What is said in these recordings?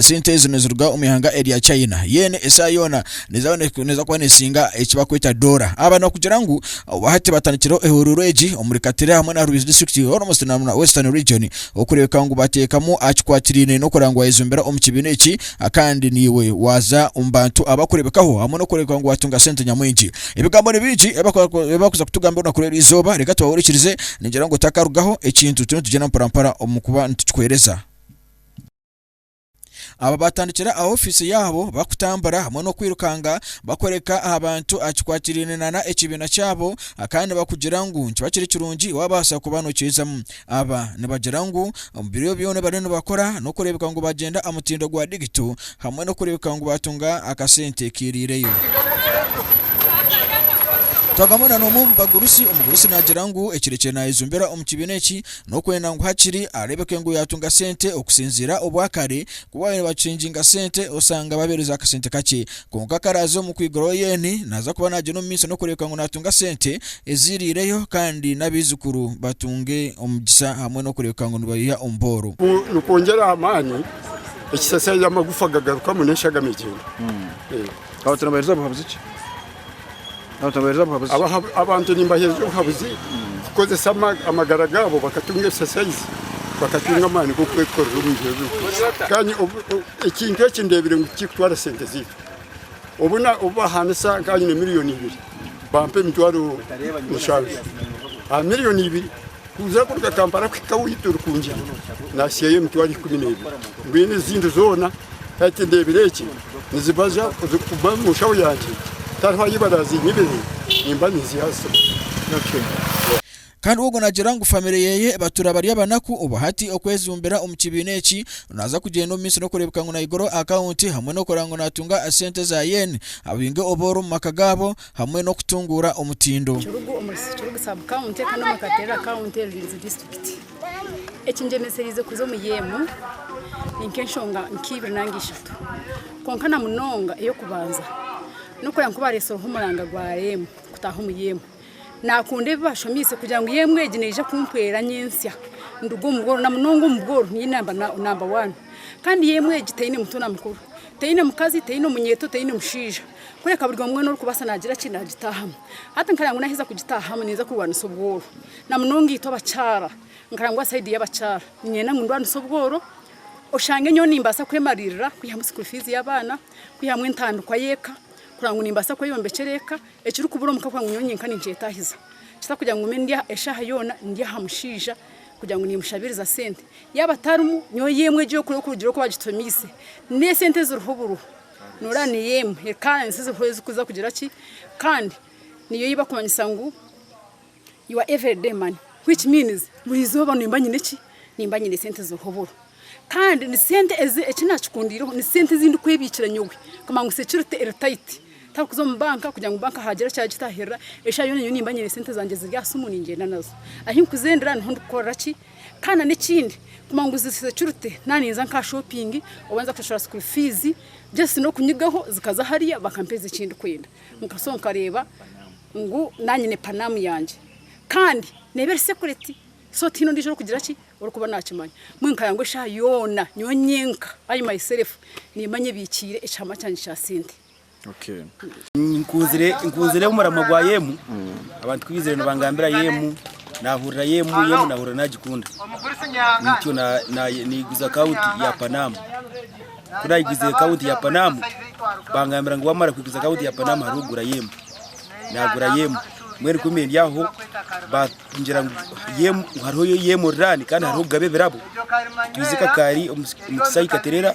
Sente ezi niziruga omu ihanga erya China. Yen esaaha yoona neeza kuba neesinga eki barikweta doora. Aba nibakugira ngu obu hati batandikireho ehuuruuru egi omuri Katira hamwe na Rwizi disiturikiti, Hormozden hamwe na Western Region okureebeka ngu bateekamu aha kikwatiraine n'okureba ngu waayezombera omu kibiina eki kandi naiwe waaza omu bantu abarikureebekaho hamwe n'okureebeka ngu waatunga sente nyamwingi. Ebigambo ni bingi ebi barikuza kutugambira orunaku rw'erizooba, reeka tubahuriikirize. Ningira ngu otakarugaho ekintu turiyo nitugyenda mporampora omu kuba nitukikuheereza. Aba baatandikire aha ofiisi yaabo bakutambura hamwe n'okwirukanga bakoreka aha bantu aha kikwatiraine nana ekibiina kyabo kandi nibakugira ngu nikiba kiri kirungi waabaasa kuba nokiizamu. Aba nibagira ngu omu biro byona ebi bariyo nibakora n'okureebeka ngu baagyenda aha mutindo gwa digito hamwe n'okureebeka ngu baatunga akasente kiiriireyo. Twagamu nana omwe omu bagurusi, omugurusi naagira ngu ekirekire naayejumbira omu kibiina eki N'okwenda ngu hakiri areebeke ngu yaatunga sente okusinziira obwakare. Ku waabaire nabacinginga sente osanga babeereza akasente kakye. Kwonka ku araaze omu kwiguraho yeeni, naaza kuba naagyenda omu maiso n'okureebeka ngu naatunga sente eziiriireyo kandi n'abaijukuru batunge omugisha hamwe n'okureebeka ngu nibayiha omu booro. Ku nikwongyera aha maani, ekisasya y'amagufa gagarukamu n'enshagama egyenda. Aho turabairiza buhabuzi ki Abantu nimbaheereza obuhabuzi kukozesa amagara gaabo bakatunga ebisasaizi, bakatunga amaani g'okwekorera omu biro ebirikuza. Kandi ekintu eki ndeebire ngu tikirikutwara sente zaitu. Obu bahaanisa nkanye na miriyoni ibiri, bampa emitwaro mushanju aha miriyoni ibiri. Kuza kuruga Kampala kuhika ahu turikungire nasiyayo emitwaro ikumi n'ebiri mbwenu ezindi zoona hati ndebire egi nizibaza kuba omu nshaho yangye tariho ahu barazinyibire nimba ninziha aha simu. Kandi ogwo nagira ngu famire yeye ebatura bari abanaku obu hati okwejumbira omu kibiina eki naza kugyenda omu minsi nokurebeka ngu nayigura akawunti hamwe nokora ngu natunga sente za yen abaingi obu ori omu maka gabo hamwe n'okutunguura omutindo. Kirugu omuri Kirugu sub county kandi omuri Katerera county, Rurinzi district. Ekingyemeseriize kuza omuri emu ni nk'enshonga nk'eibiri nari ishatu kwonka na munonga ey'okubanza n'okureeba ngu bareetsireho omuranga gwa emu kutaaha omuri emu. Naakunda ebi baashomiise kugira ngu emu egi neija kumpwera nyentsya nduge omu bworo na munonga omu bworo niinye naaba namba waani. Kandi emu egi teine muto na mukuru, teine mukazi, teine omunyeeto, teine mushaija. Kureka buri omwe n'oru kubaasa naagira ki naagitaahamu. Hati nkareba ngu naaheza kugitaahamu niinza kurwanisa obworo. Na munonga itwe abakyara, nkareba ngu aha sayidi y'abakyara niinyenda ngu ndwanise obworo oshange nyowe nimbaasa kwemariirira kwihamu sukuuru fiizi y'abaana, kwihamu entandikwa y'eka, kureba ngu nimbaasa kweyombekyera eka, ekirikubura omu ka kureba ngu nyowe nyenka ninkyetaahiza. Kitari kugira ngu ngume eshaaha yoona ndi aha mushaija kugira ngu niimushabiriza sente. Yaaba tarimu, nyowe yoona egi orikugira oku baagitumiise, n'esente eziriho buriho. Noreeba niyo emwe ekansi ziriho ezikuza kugira ki kandi niyo ei bakumanyisa ngu your everyday money which means buri izooba nimba nyine ki nimba nyine sente ziriho oburo kandi ni sente ezi eki naakikundiireho ni sente ezi ndikwebiikira nyowe kumanya ngu security security eri tight tarikuza omu banka kugira ngu banka haagira eki yaagitaahirira eshaaha yoona nyowe nimba nyine sente zangye ziri aha siimu ningyenda nazo ahi nkuzendera niho ndikukorera ki Kandi na nekindi kumanya ngu ziza security naba ninza nka aha shopping oba ninza kushashura school fees just nokunyigaho zikaza hariya bakampeza ekindikwenda nka so nkareba ngu nanye nyine panam yangye Kandi neba eri security so tihaine ondijo orikugira ki orikuba nakimanya mbwenu nkaya ngu eshaha yoona nyowe nyenka I myself nimanya ebikiire ekihama kyangye Kya sente. Nkunzire omuramwa gwa Yemu, abantu ku baizire nibangambira Yemu, naahurira Yemu, Yemu naahurira naagikunda. Nikyo naiguza akawunti ya Panamu. Ku naiguza akawunti ya Panamu, bangambira ngu waamara kuguza akawunti ya Panamu hariho okugura Yemu. Naagura Yemu. Mbwenu ku ndi aho, baangira ngu hariho Yemu oriraani kandi hariho kugaba ebirabo. Twijuka kaari omu kisaayi Katerera.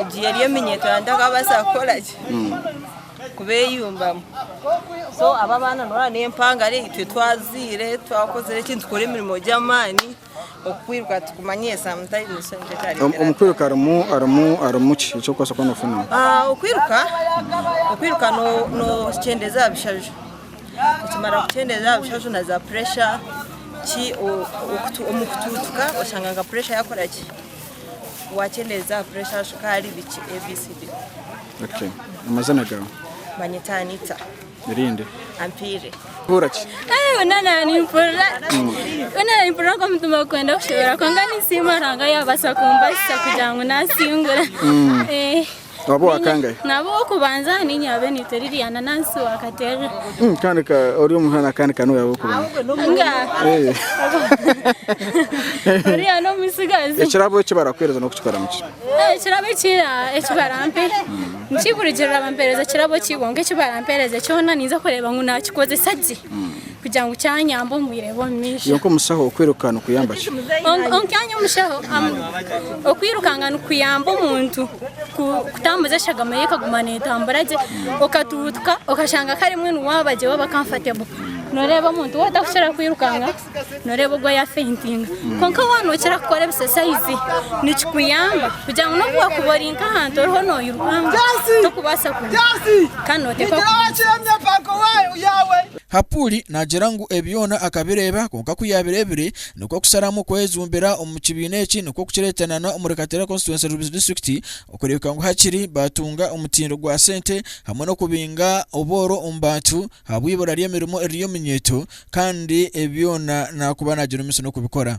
Egi eri eminyeeto yangye takabaasa kukora ki kubeyumbamu. So aba abaana noreeba n'empangare itwe twazaire twakozire ki nitukora emirimo gy'amaani okukwiruka tukumanyire sometimes nikyo kikareetera Omu- omu kwiruka harimu harimu harimu ki eki okubaasa kuba noofuna Ah, okwiruka okwiruka no- nookyendeeza aha bishaju okimara kukyendeeza aha bishaju na za puresha ki o- okutu- omu kutuutuka oshanga nka puresha yakora ki wakyendeeza puresha, shukaari, biki etc. Okay. Amazina gaawe? Banyeta Anita. Erindi? Ampiire. Ohuura ki? Eh, wena na nimpurira wena na nimpurira nka omutima gukwenda kushobera kwonka ninsiima Ruhanga yabaasa kumbasisa kugira ngu nasingura. Eh. Waaba owakangahe? Naaba ow'okubanza niinye abe niitwa Liliana Nansi wa Katerere. Mm, kandi ka ori omuhana kandi ka niwe w'okubanza. Nga Eh. oriya n'omutsigazi. Ekirabo eki barakuheereza n'okukikoramu ki? Eh, Ekirabo eki ah, eki barampe nikigurugirira bampeereza ekirabo ki kwonka eki barampeereze kyona ninza kureeba ngu naakikozesa gye. kugira ngu kyanyamba omu bwire bw'omumaisho. Yonka omushaho okwiruka nikuyamba ki? Yonka omushaho okwirukanga nikuyamba omuntu kutambuza eshagama ye ekaguma netambura gye okatuutuka okashanga kare mwe niwaaba gye waaba comfortable noreeba omuntu we otakukira kwirukanga noreeba ogwo yafentinga kwonka waaba nokira kukora ebisesayizi nikikuyamba kugira ngu nobu wakuba ori nk'ahantu oriho noyirukanga tokubaasa kugwa kandi noteeka Hapuri naagira ngu ebi byona akabireeba, kwonka ku yaabireebire nikwo kusharamu kwejumbira omu kibiina eki nikwo kukireetanana omuri Kateera Constituency Rubis District okureebeka ngu hakiri baatunga omutindo gwa sente hamwe n'okubinga obworo omu bantu ahabw'eibura ry'emirimo eriri omu nyeeto kandi ebi byona naakuba naagira omutsyo n'okubikora.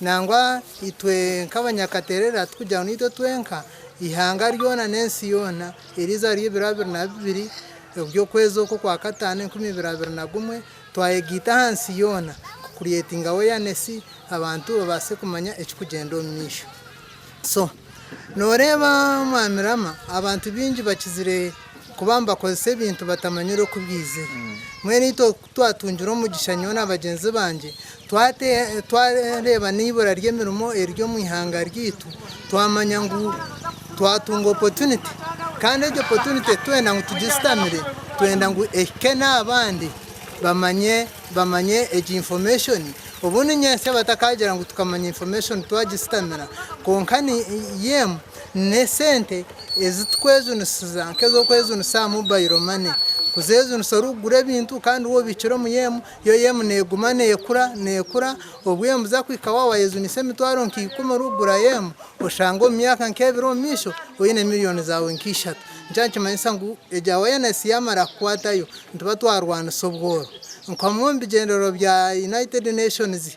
Nangwa itwe nk'abanyakaterera tikugira ngu naitwe twenka, eihanga ryona n'ensi yoona eriize ahari ebiro abiri na bibiri eby'okwezi okwo kwa kataano enkumi ibiri abiri na gumwe, twayegaita aha nsi yoona kukuryetinga aweyanesi abantu babaase kumanya ekirikugyenda omu maisho. So, nooreeba Mwami Rama, abantu baingi bakizire kuba nibakozesa ebintu batamanyire oku biizire. Mbwenu itwe Twatungire omugisha nyowe na bagyenzi bangye twareeba n'eibura ry'emirimo eriri omu ihanga ryaitu, twamanya ngu twatunga opportunity kandi egyo opportunity titwenda ngu tugisitamire, twenda ngu ehike n'abandi bamanye bamanye egi information obundi nyentsya batakaagira ngu tukamanya information twagisitamira kwonka ni yem. N'esente ezi turikwejunisiza nk'ez'okwejunisa aha mobayiro mane, kuzeejunisa orikugura ebintu kandi waaba obikiire omuri emu, yo emu neeguma neekura neekura obu emu kuza kuhika waaba waayejunisa emitwaro nka ikumi orikugurayo emu, oshange omu myaka nk'ebiri omu maisho oine miriyoni zaawe nka ishatu. Nikyo nikimanyisa ngu egyo awareness yaamara kukwatayo nituba twarwanisa obworo. Nikwo hamwe omu bigyendererwa bya United Nations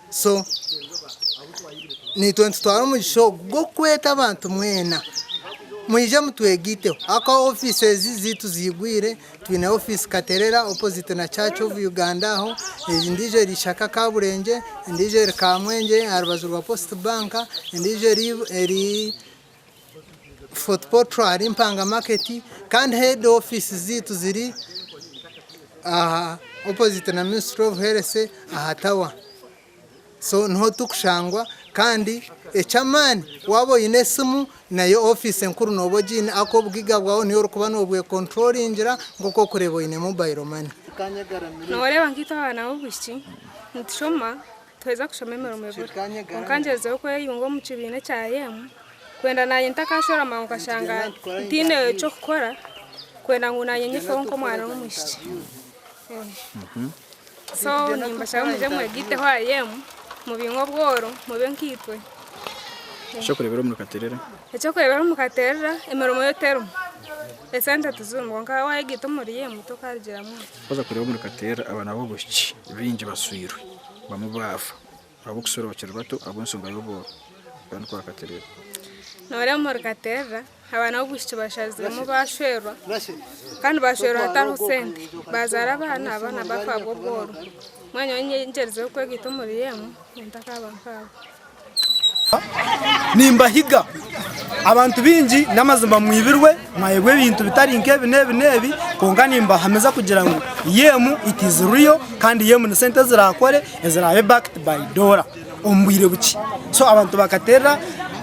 So, naitwe nitutwara omugisha ogu gw'okweta abantu mwena, mwije mutwegaiteho. Ahakuba ofiisi ezi zaitu ziigwire, twine ofiisi Katerera opposite na Church of Uganda aho, endiijo eri Ishaka Kaburengye, endiijo eri Kamwengye aha rubaju rwa Post Bank, endiijo eri, eri, Fort portal ahari mpanga market kandi head office zaitu ziri aha opposite na ministry of health aha tower so niho turikushangwa kandi eky'amaani waaba oine esimu nayo office enkuru nooba ogiine ahakuba obugiiga bwawe niiwe orikuba noobwekonturoringira nk'oku orikureeba oine mobile money. Nooreeba nk'itwe abaana b'obwishiki nitushoma Twaheza kushoma emirimo ebura, kwonka ngyezireho kweyunga omu kibiina ekya Yemu kwenda naanye ntakaashwera mangu nkashanga ntiine ky'okukora kwenda ngu naanye nyefaho nk'omwana w'omwishiki. So nimbashaba mugye mwegaiteho aha Yemu mubingye obworo mube nkaitwe. Eky'okureeberaho omuri Katerera. Eky'okureeberaho omuri Katerera, emirimo yo terimu, esente tizirimu kwonka waayegaita omuri Yemu tokaarugiramu. Twaheza kureeba omuri Katerera abaana b'obwishiki baingi bashwirwe. bamwe baafa ahabw'okusorookyerwa bato ahabw'ensonga y'obworo. Yohana oku akatereera. Noreeba omuri Katerera abaana b'obwishiki bashaziremu baashwerwa kandi nibaashwerwa hatariho sente. Baazaara abaana, abaana baafa ahabw'obworo. Mbwenu nyowe ningyerizaho kwegaita omuri emu, ngu ntakaaba nkaabo. Nimbahiga abantu baingi, n'amazima mwibirwe, mwayebwa ebintu bitari nk'ebi n'ebi n'ebi, kwonka nimbahamiza kugira ngu Yemu it is real kandi Yemu ni sente ezirakore ezirabe backed by Dora omu bwire bukye. So abantu bakaterera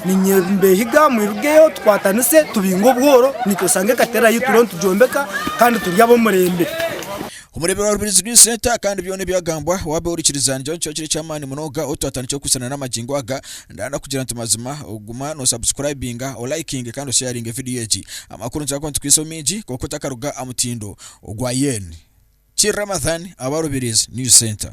nimbehiga mwirugeyo tukwatanise tubinge obworo, nitwe osange ekaterera yaitu turiyo nitugyombeka kandi turi ab'omurembe. Omureebe wa Rubirizi Green Centre kandi byona ebyagambwa waabe orikiriza nigira ngu kiba kiri eky'amaani munonga ou twatandikire kukwisanira n'amagingo aga. Ndanda kugira nti mazima guma nosabusikurayibinga, olayikinge kandi osheyaringe vidiyo egi. Amakuru nitukira kuba nitukwisaho maingi kwonka otakaruga aha mutindo ogwa Yen. Ki Ramathan aba Rubirizi News Centre.